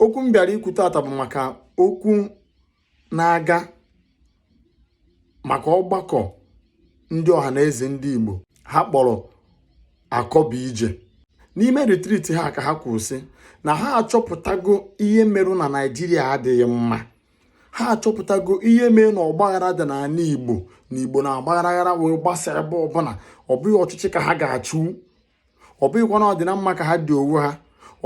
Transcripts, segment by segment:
okwu m bịara ikwu tata bụ maka okwu na-aga maka ọgbakọ ndị Ọhanaeze ndị Igbo ha kpọrọ akọ bụ ije n'ime retreat ha ka ha kwuru sị na ha achọpụtago ihe merụ na Naịjirịa adịghị mma ha achọpụtago ihe mere na ọgbaghara dị n'ala Igbo na Igbo na-agbagharaghara wee gbasa ebe ọbụla ọ bụghị ọchịchị ka ha ga-achụ ọ bụghịkwa na ọdịna mma ka ha dị onwe ha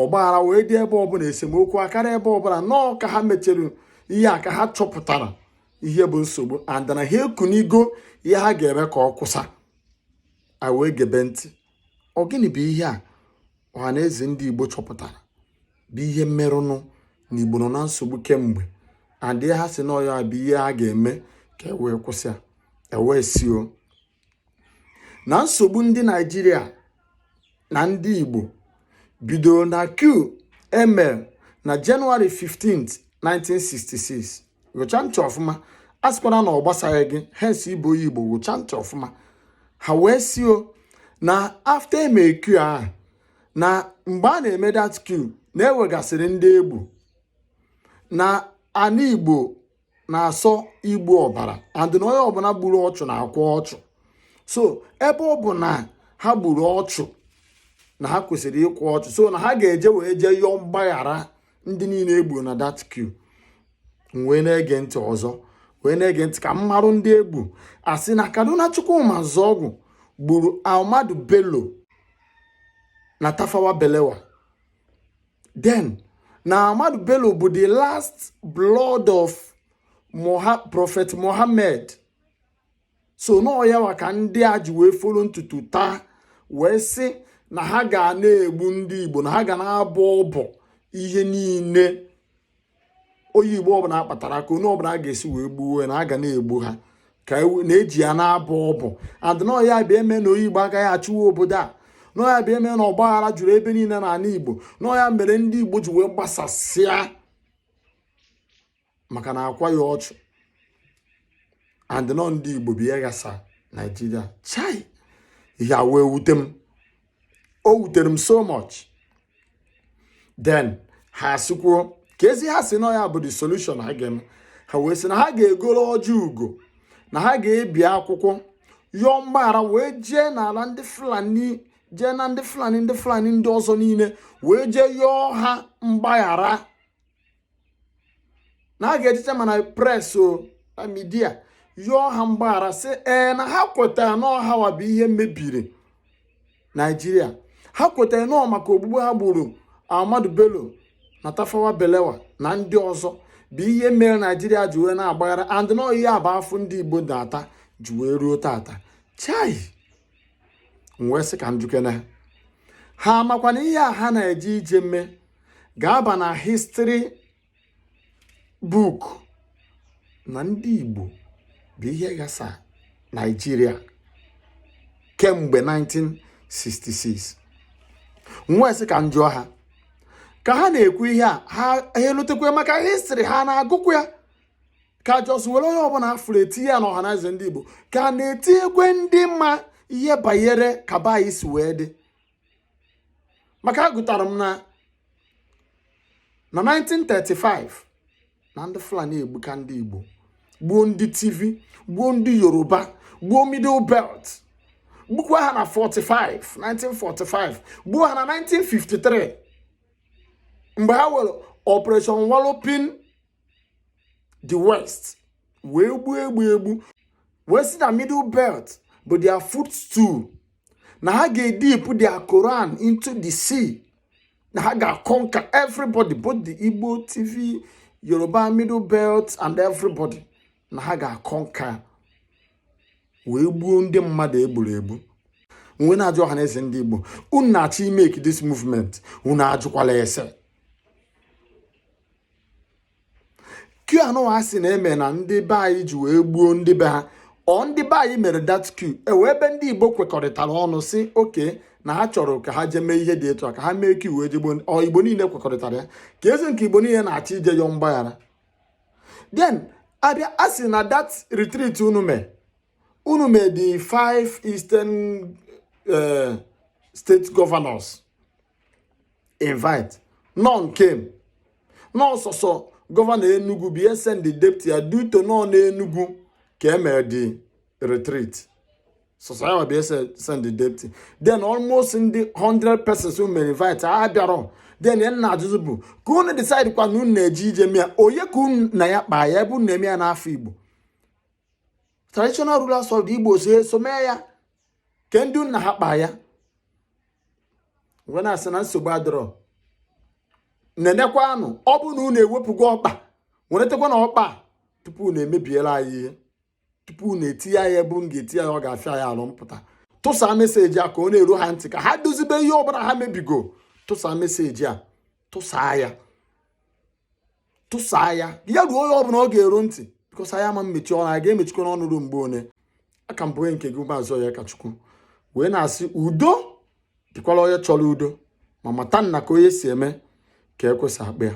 ọgbaghara wee dị ebe ọbụla esemokwu akarịa ebe ọbụla na ọ ka ha mechere ihe a ka ha chọpụtara ihe bụ nsogbu and na ha ekunigo ihe ha ga-eme ka ọ kwụsịa a wee gebe ntị ọ gịnị bụ ihe a Ọhanaeze ndị igbo chọpụtara bụ ihe merụnụ na igbo nọ na nsogbu kemgbe and ihe ha sị na ọ ya bụ ihe a ga-eme ka e wee kwụsịa e wee sị o na nsogbu ndị naijiria na ndị igbo bidoro na coup e melu na January 15 1966 wụcha ntị ọfụma asịkwana na ọ gbasaghị gị hence ị bụ onye igbo wụcha ntị ọfụma ha wee sị o na after eme coup ahụ na mgbe a na-eme that coup na e nwegasịrị ndị e gbu na ana igbo na-asọ igbu ọbara and na onye ọbụla gburu ọchụ na-akwa ọchụ so ebe ọ bụ na ha gburu ọchụ na ha kwesịrị ịkwa ọchụ so na ha ga-eje wee jee yọọ mgbaghara ndị niile e gburu na that coup m wee na-ege ntị ọzọ wee na-ege ntị ka m marụ ndị e gbu a sị na Kaduna Chukwuma Nzeogwu gburu Ahmadu Bello na Tafawa Balewa then na Ahmadu Bello bụ the last blood of Moha Prophet Mohammed so na ọ ya nwa ka ndị a ji wee folo ntutu taa wee sị na ha ga na-egbu ndị Igbo na ha ga na-abọ ọbọ ihe niile onye igbo ọbụla a kpatara aka onye ọbụla a ga-esi wee gbuo na a ga na-egbu ha ka a na-eji ya na-abọ ọbọ and na ọ ya bịa eme na onye igbo agaghị achịwa obodo a na ọ ya bịa eme na ọgbaghara juru ebe niile n'ala igbo na ọ ya mere ndị igbo ji wee gbasasịa maka na akwaghị ọchụ and na ọ ndị igbo bụ ihe ghasa naijiria chai ihe a wee wute m o wutere m so much then ha asịkwuo ka ezi ha sị na ọ ya bụ the solution ha ga ha wee sị na ha ga-egoro ọjị ugo na ha ga-ebi akwụkwọ yọọ mgbaghara wee jee n'ala ndị fulani jee na ndị fulani ndị fulani ndị ọzọ niile wee jee yọọ ha mgbaghara na ha ga-ejecha mana press o na media yọọ ha mgbaghara sị ee na ha kwetara na ọ hanwa bụ ihe mebiri naijiria ha kwetara na ọ maka ogbugbu ha gburu ahmadu bello na tafawa balewa na ndị ọzọ bụ ihe mere naijiria ji wee na-agbaghara and na ọ ya bụ afụfụ ndị igbo na-ata ji wee ruo tata chai m wee sị ka m jụkene ha ha makwa na ihe a ha na-eje ije mme ga-aba na history book na ndị Igbo bụ ihe ghasa Naịjirịa kemgbe 1966 m wee sị ka m jụọ ha ka ha na-ekwu ihe a ha elotekwe maka history ha na-agụkwa ya ka just were onye ọbụla a fụrụ etinye ya na ọhanaeze ndị igbo ka na-etinyekwe ndị ma ihe banyere ka be anyị si wee dị maka agụtara m na na 1935 na ndị fulani egbuka ndị igbo gbuo ndị tiv gbuo ndị yoruba gbuo middle belt gbukwa ha na 45 1945 gbuo ha na 1953 mgbe ha were operation walloping the west wee gbuo egbu egbu wee sị na middle belt bụ their footstool na ha ga-edip their Quran into the sea na ha ga-conquer everybody both the Igbo Tiv Yoruba middle belt and everybody na ha ga-conquer wee gbuo ndị mmadụ egburu egbu m wee na-ajụ ọhanaeze ndị Igbo unu na-achọ i-make this movement unu ajụkwala ese coup anụwa a sị na e me na ndị be anyị ji wee gbuo ndị be ha ọ ndị be anyị mere that coup e nwe ebe ndị igbo kwekọrịtara ọnụ sị okay na ha chọrọ ka ha jee mee ihe dị etu a ka ha mee coup wee jee gbuo ọ igbo niile kwekọrịtara ya kezi nke igbo niile na-achọ ije yọọ mgbaghara then a bịa asị na that retreat unu mee unu mee the five eastern eh, state governors invite none came na ọ sọsọ governor Enugu bụ ihe send deputy ya due to na ọ n'Enugu ka e mere the retreat sọsọ ya bụ ihe send deputy then almost ndị 100 persons who were invited bịara then ihe m na-ajụzi bụ ka unu decide kwa na unu na-eje ije mee ya onye ka unu na ya kpaa ya ebe unu na-eme ya n'afa Igbo traditional rulers of the Igbo so eso mee ya ke ndị unu na ha kpa ya wee na-asị na nsogbu adịrọ nenekwanụ ọ bụ na unu ewepụgo ọkpa weretekwanụ ọkpa tupu unu emebiela anyị ihe tupu unu etinye ya ebe unu ga-eti ya ọ ga-afịa ya alụ mpụta tụsa message a ka ọ na-eru ha ntị ka ha dozibe ihe ọbụla ha mebigo tụsa message a tụsaa ya tụsaa ya ya ruo onye ọbụla ọ ga-eru ntị because anyị ama mmechi ọnụ anyị ga-emechikwanụ ọnụ ruo mgbe one aka m bụ nke gị maazị onyekachukwu wee na-asị udo dịkwala onye chọrọ udo ma mata na ka onye si eme ka ekwesị akpa ya